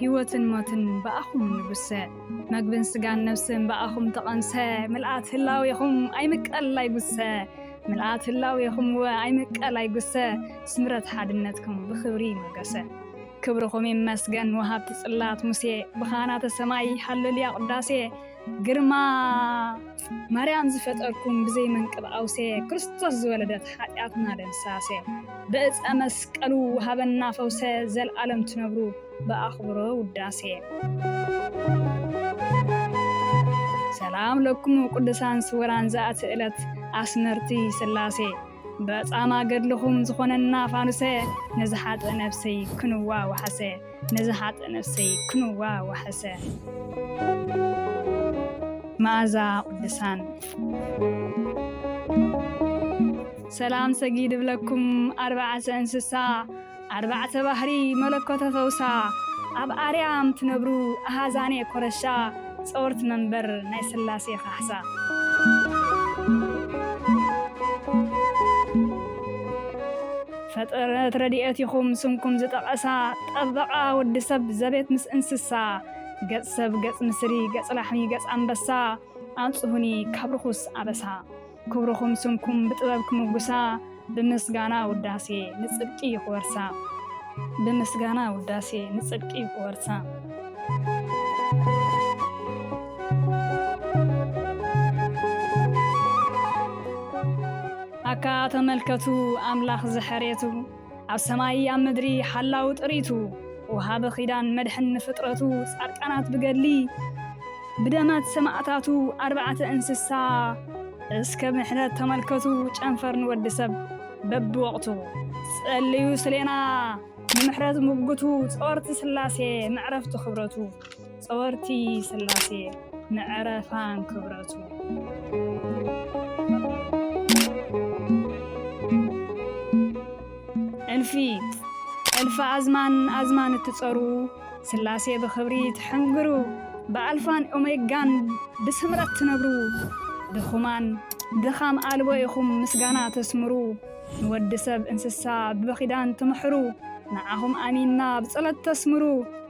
ሕይወትን ሞትን ብኣኹም ንጉሰ፣ መግብን ሥጋን ነፍስን ብኣኹም ተቐምሰ፣ ምልኣት ህላዌኹም ኣይምቀል ኣይጉሰ፣ ምልኣት ህላዌኹም እወ ኣይምቀል ኣይጉሰ፣ ሥምረት ሓድነትኩም ብኽብሪ ይሞገሰ። ክብርኹም ይመስገን ወሃብቲ ጽላት ሙሴ፣ ብኻህናተ ሰማይ ሃሌሉያ ቅዳሴ፣ ግርማ ማርያም ዝፈጠርኩም ብዘይ መንቅብ ኣውሴ ክርስቶስ ዝወለደት ሓጢኣትና ደምሳሴ ብእፀ መስቀሉ ውሃበና ፈውሰ ዘልኣለም ትነብሩ ብኣኽብሮ ውዳሴ ሰላም ለኩም ቅዱሳን ስውራን ዘኣቲ ዕለት ኣስመርቲ ስላሴ በጻማ ገድልኹም ዝኾነና ፋኑሰ ነዚ ሓጥእ ነብሰይ ክንዋ ወሓሰ ነዚ ሓጥእ ነብሰይ ክንዋ ወሓሰ መኣዛ ቅዱሳን ሰላም ሰጊድ እብለኩም ኣርባዕተ እንስሳ ኣርባዕተ ባህሪ መለኮተ ፈውሳ ኣብ ኣርያም ትነብሩ ኣሃዛኔ ኮረሻ ጸወርት መንበር ናይ ስላሴ ካሕሳ። ፈጠረት ረድኤት ኢኹም ስምኩም ዝጠቐሳ ጠበቓ ወዲ ሰብ ዘቤት ምስ እንስሳ ገጽ ሰብ ገጽ ንስሪ ገጽ ላሕሚ ገጽ ኣንበሳ ኣንጽሁኒ ካብ ርኹስ ኣበሳ። ክብርኹም ስምኩም ብጥበብ ክምጉሳ ብምስጋና ውዳሴ ንጽድቂ ክወርሳ ብምስጋና ውዳሴ ንጽድቂ ክወርሳ ኣካ ተመልከቱ ኣምላኽ ዝሐሬቱ ኣብ ሰማይ ኣብ ምድሪ ሓላው ጥሪቱ ወሃቢ ኺዳን መድሕን ንፍጥረቱ ጻድቃናት ብገድሊ ብደመት ሰማእታቱ ኣርባዕተ እንስሳ እስከ ምሕረት ተመልከቱ ጨንፈር ንወዲ ሰብ በብወቕቱ ጸልዩ ስሌና ንምሕረት ምጉቱ ጸወርቲ ስላሴ መዕረፍቲ ክብረቱ ጸወርቲ ስላሴ ንዕረፋን ክብረቱእልፊ እልፊ ኣዝማን ኣዝማን እትጸሩ ስላሴ ብኽብሪ ትሕንግሩ ብኣልፋን ኦሜጋን ብስምረት ትነብሩ ድኹማን ድኻም ኣልቦ ኢኹም ምስጋና ተስምሩ ንወዲ ሰብ እንስሳ ብበኺዳን ትምሕሩ ንዓኹም ኣሚንና ብጸሎት ተስምሩ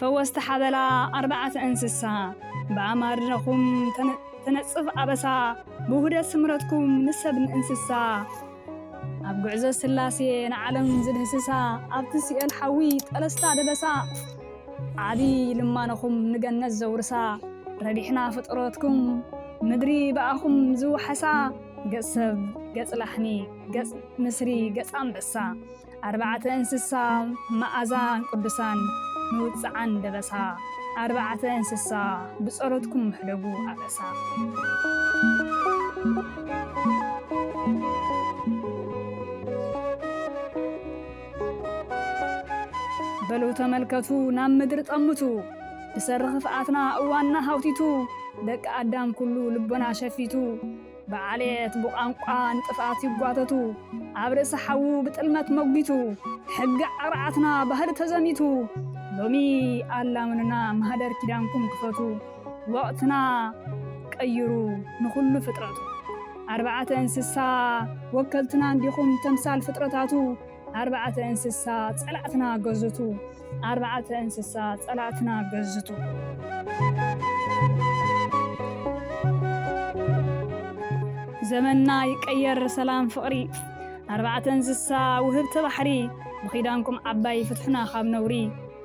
ፈወስቲ ሓበላ ኣርባዕተ እንስሳ ብኣማርነኹም ተነጽፍ ኣበሳ ብውህደት ስምረትኩም ንሰብ ንእንስሳ ኣብ ጉዕዞ ስላሴ ንዓለም ዝድህስሳ ኣብቲ ሲኦል ሓዊ ጠለስታ ደበሳ ዓብዪ ልማነኹም ንገነት ዘውርሳ ረቢሕና ፍጥረትኩም ምድሪ ብኣኹም ዝውሓሳ ገጽ ሰብ ገጽ ላሕሚ ገጽ ንስሪ ገጽ ኣንበሳ ኣርባዕተ እንስሳ መኣዛን ቅዱሳን ንውጽዓን ደበሳ ኣርባዕተ እንስሳ ብጸሎትኩም ምሕደጉ ኣበሳ በሉ ተመልከቱ ናብ ምድሪ ጠምቱ ብሰሪ ክፍኣትና እዋንና ሃውቲቱ ደቂ ኣዳም ኩሉ ልቦና ሸፊቱ ብዓሌት ብቋንቋ ንጥፍኣት ይጓተቱ ኣብ ርእሲ ሓዉ ብጥልመት መጒቱ ሕጊ ዓቕርዓትና ባህሊ ተዘሚቱ ሎሚ ኣላምኑና ማህደር ኪዳንኩም ክፈቱ ወቕትና ቀይሩ ንኹሉ ፍጥረቱ ኣርባዕተ እንስሳ ወከልትና እንዲኹም ተምሳል ፍጥረታቱ ኣርባዕተ እንስሳ ጸላእትና ገዝቱ ኣርባዕተ እንስሳ ጸላእትና ገዝቱ። ዘመንና ይቀየር ሰላም ፍቕሪ ኣርባዕተ እንስሳ ውህብቲ ባሕሪ ብኺዳንኩም ዓባይ ፍትሑና ካብ ነውሪ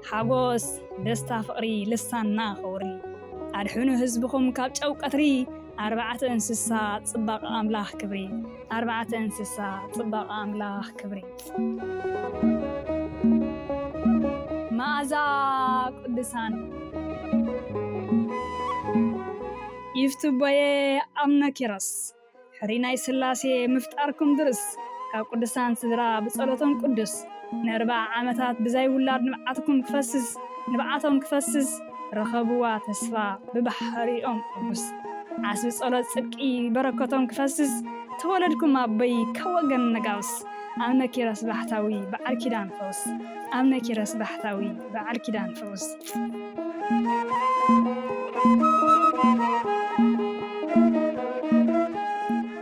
ሓጎስ ደስታ ፍቕሪ ልሳንና ከውሪ ኣድሕኑ ህዝብኹም ካብ ጨው ቀትሪ ኣርባዕተ እንስሳ ጽባቐ ኣምላኽ ክብሪ ኣርባዕተ እንስሳ ጽባቐ ኣምላኽ ክብሪ መኣዛ ቅዱሳን ይፍትቦየ ኣምነ ኪሮስ ሕሪ ናይ ስላሴ ምፍጣርኩም ድርስ ካብ ቅዱሳን ስድራ ብጸሎቶም ቅዱስ ንኣርብዓ ዓመታት ብዘይ ውላድ ንብዓትኩም ክፈስስ ንብዓቶም ክፈስስ ረኸብዋ ተስፋ ብባሕሪኦም ርሑስ ዓስቢ ጸሎት ጽድቂ በረከቶም ክፈስስ ተወለድኩም ኣቦይ ካብ ወገን ነጋውስ ኣብነ ኪሮስ ባሕታዊ በዓል ኪዳን ፈውስ ኣብነ ኪሮስ ባሕታዊ በዓል ኪዳን ፈውስ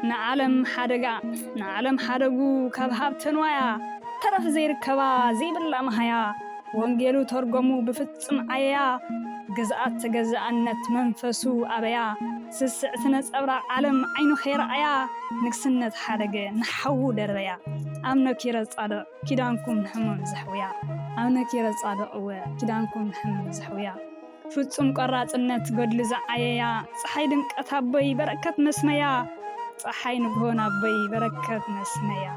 ንዓለም ሓደጋ ንዓለም ሓደጉ ካብ ሃብተ ንዋያ ተረፍ ዘይርከባ ዘይብላ መሃያ ወንጌሉ ተርጎሙ ብፍጹም ዓየያ ግዝኣት ተገዛእነት መንፈሱ ኣበያ ስስዕቲ ነጸብራቕ ዓለም ዓይኑ ከይረኣያ ንግስነት ሓደገ ንሓዉ ደርበያ ኣምነኪረ ጻድቕ ኪዳንኩም ንሕሙም ዘሕውያ ኣብነ ኪረጻድቕ እወ ኪዳንኩም ንሕሙም ዘሕውያ ፍጹም ቆራጽነት ገድሉ ዝዓየያ ጸሓይ ድምቀት ኣቦይ በረከት መስመያ ጸሓይ ንግሆ ናቦይ በረከት መስመያ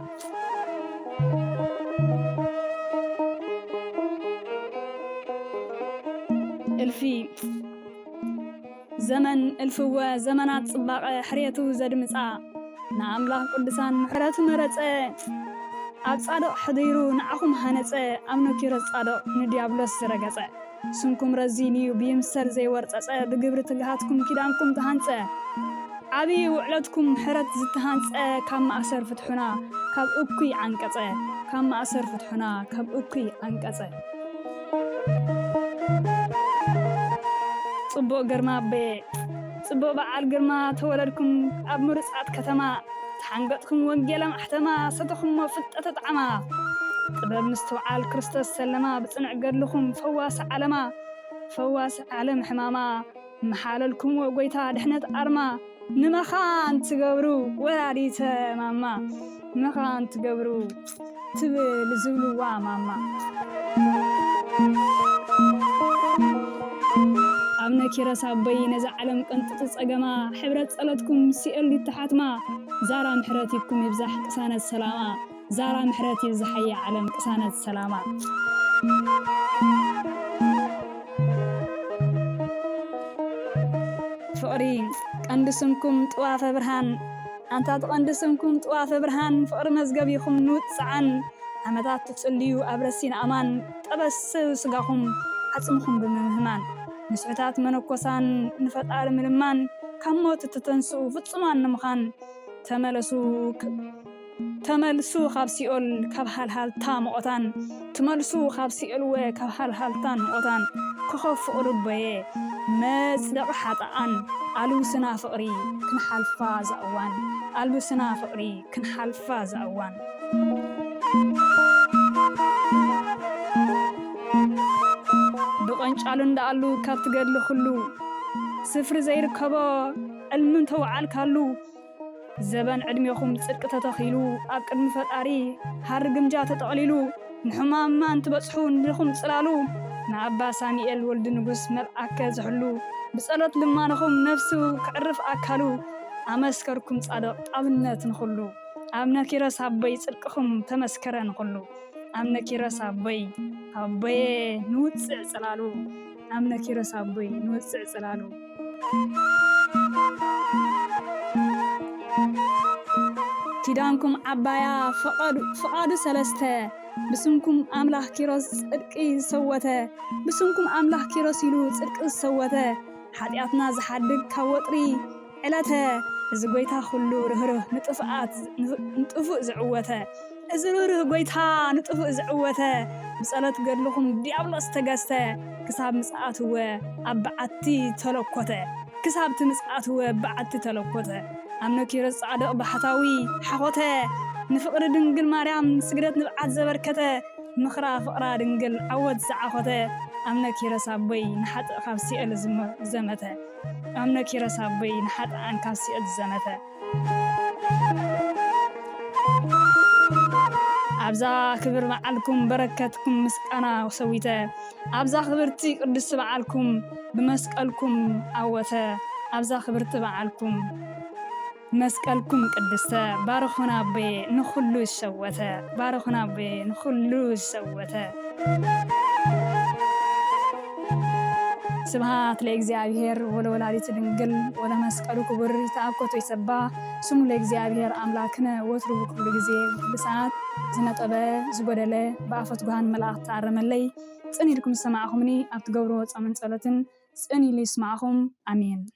እልፊ ዘመን እልፍወ ዘመናት ጽባቐ ሕርየቱ ዘድምጻ ንኣምላኽ ቅዱሳን ምሕረቱ መረጸ ኣብ ጻድቕ ሕዲሩ ንዓኹም ሃነጸ ኣብ ኖኪሮስ ጻድቕ ንዲያብሎስ ዝረገጸ ስምኩም ረዚንዩ ብይምሰል ዘይወርጸጸ ብግብሪ ትግሃትኩም ኪዳንኩም ተሃንጸ ዓብዪ ውዕለትኩም ምሕረት ዝተሃንጸ ካብ ማእሰር ፍትሑና ካብ እኩይ ዓንቀጸ ካብ ማእሰር ፍትሑና ካብ እኩይ ዓንቀጸ ጽቡቅ ግርማ ኣቦየ ጽቡቅ በዓል ግርማ ተወለድኩም ኣብ ምሩጻት ከተማ ተሓንገጥኩም ወንጌል ኣማሕተማ ሰተኹሞ ፍልጠተ ጣዕማ ጥበብ ምስትውዓል ክርስቶስ ሰለማ ብጽንዕ ገድልኹም ፈዋሲ ዓለማ ፈዋሲ ዓለም ሕማማ ምሓለልኩምዎ ጎይታ ድሕነት ኣርማ ንመኻን ትገብሩ ወላዲተ ማማ መኻን ትገብሩ ትብል ዝብልዋ ማማ ኣብነ ኪረስ ኣቦይ ነዛ ዓለም ቅንጥጢ ጸገማ ሕብረት ጸሎትኩም ሲኦል ይተሓትማ ዛራ ምሕረት ይብኩም ይብዛሕ ቅሳነት ሰላማ ዛራ ምሕረት ይብዝሓያ ዓለም ቅሳነት ሰላማ። ፍቅሪ ቀንዲ ስምኩም ጥዋፈ ብርሃን ኣንታት ቐንዲ ስምኩም ጥዋፈ ብርሃን ፍቅሪ መዝገቢኩም ንውጽዓን ዓመታት ትጽልዩ ኣብ ረሲን ኣማን ጠበስ ስጋኩም ዓጽምኩም ብምምህማን ንስሑታት መነኮሳን ንፈጣሪ ምልማን ካብ ሞት እትተንስኡ ፍጹማን ንምኻን ተመለሱ። ተመልሱ ካብ ሲኦል ካብ ሃልሃልታ መቖታን ትመልሱ ካብ ሲኦልወ ካብ ሃልሃልታን መቖታን ኮኾብ ፍቕሪቦየ መጽደቒ ሓጥኣን ኣልውስና ፍቕሪ ክንሓልፋ እዛ እዋን ኣልውስና ፍቕሪ ክንሓልፋ እዛ እዋን። ብቐንጫሉ እንዳኣሉ ካብቲ ገድሊ ኩሉ ስፍሪ ዘይርከቦ ዕልሚ እንተወዓልካሉ ዘበን ዕድሜኹም ጽድቂ ተተኺሉ ኣብ ቅድሚ ፈጣሪ ሃሪ ግምጃ ተጠቕሊሉ ንሕማም ማን ትበጽሑ ንድኹም ጽላሉ ንኣባ ሳሚኤል ወልድ ንጉስ መልኣከ ዝሕሉ ብጸሎት ልማኖኹም ነፍሱ ክዕርፍ ኣካሉ ኣመስከርኩም ጻድቕ ጣብነት ንኹሉ ኣብነ ኪረስ ኣቦይ ጽድቅኹም ተመስከረ ንኹሉ ኣብነ ኪረስ ኣቦይ ኣቦየ ንውጽዕ ጽላሉ ኣምነ ኪሮስ ኣቦይ ንወጽዕ ጽላሉ። ኪዳንኩም ዓባያ ፍቓዱ ሰለስተ ብስምኩም ኣምላኽ ኪሮስ ጽድቂ ዝሰወተ ብስምኩም ኣምላኽ ኪሮስ ኢሉ ጽድቂ ዝሰወተ ሓጢኣትና ዝሓድግ ካብ ወጥሪ ዕለተ እዚ ጎይታ ኩሉ ርህሩህ ንጥፍኣት ንጥፉእ ዝዕወተ እዚ ርህሩህ ጎይታ ንጥፉእ ዝዕወተ ብጸሎት ገድልኹም ዲያብሎስ ተገዝተ ክሳብ ምጽኣትወ ኣብ በዓቲ ተለኮተ ክሳብቲ ምጽኣትወ በዓቲ ተለኮተ ኣምነ ኪሮስ ጻድቕ ባሕታዊ ሓኾተ ንፍቕሪ ድንግል ማርያም ስግደት ንብዓት ዘበርከተ ምኽራ ፍቕራ ድንግል ዓወት ዝዓኾተ ኣምነ ኪሮስ ኣቦይ ንሓጥእ ካብ ሲኦል ዘመተ ኣምነ ኪሮስ ኣቦይ ንሓጥኣን ካብ ሲኦል ዝዘመተ። ኣብዛ ክብር በዓልኩም በረከትኩም ምስ ቃና ሰዊተ። ኣብዛ ክብርቲ ቅድስቲ በዓልኩም ብመስቀልኩም ኣወተ። ኣብዛ ክብርቲ በዓልኩም። መስቀልኩም ቅድስተ ባርኹና ኣቦየ ንኹሉ ዝሸወተ ባርኹና ኣቦየ ንኹሉ ዝሸወተ ስብሃት ለእግዚኣብሔር ወለወላዲቱ ድንግል ወለመስቀሉ ክቡር ይተኣኮቶ ይሰባ ስሙ ለእግዚኣብሔር ኣምላክነ ወትሩ ብኩሉ ግዜ ብኩሉ ሰዓት ዝነጠበ ዝጎደለ ብኣፈት ጉሃን መላእኽቲ ኣረመለይ ጽን ኢልኩም ዝሰማዕኹምኒ ኣብ ትገብርዎ ጾምን ጸሎትን ጽን ኢሉ ይስማዕኹም ኣሜን።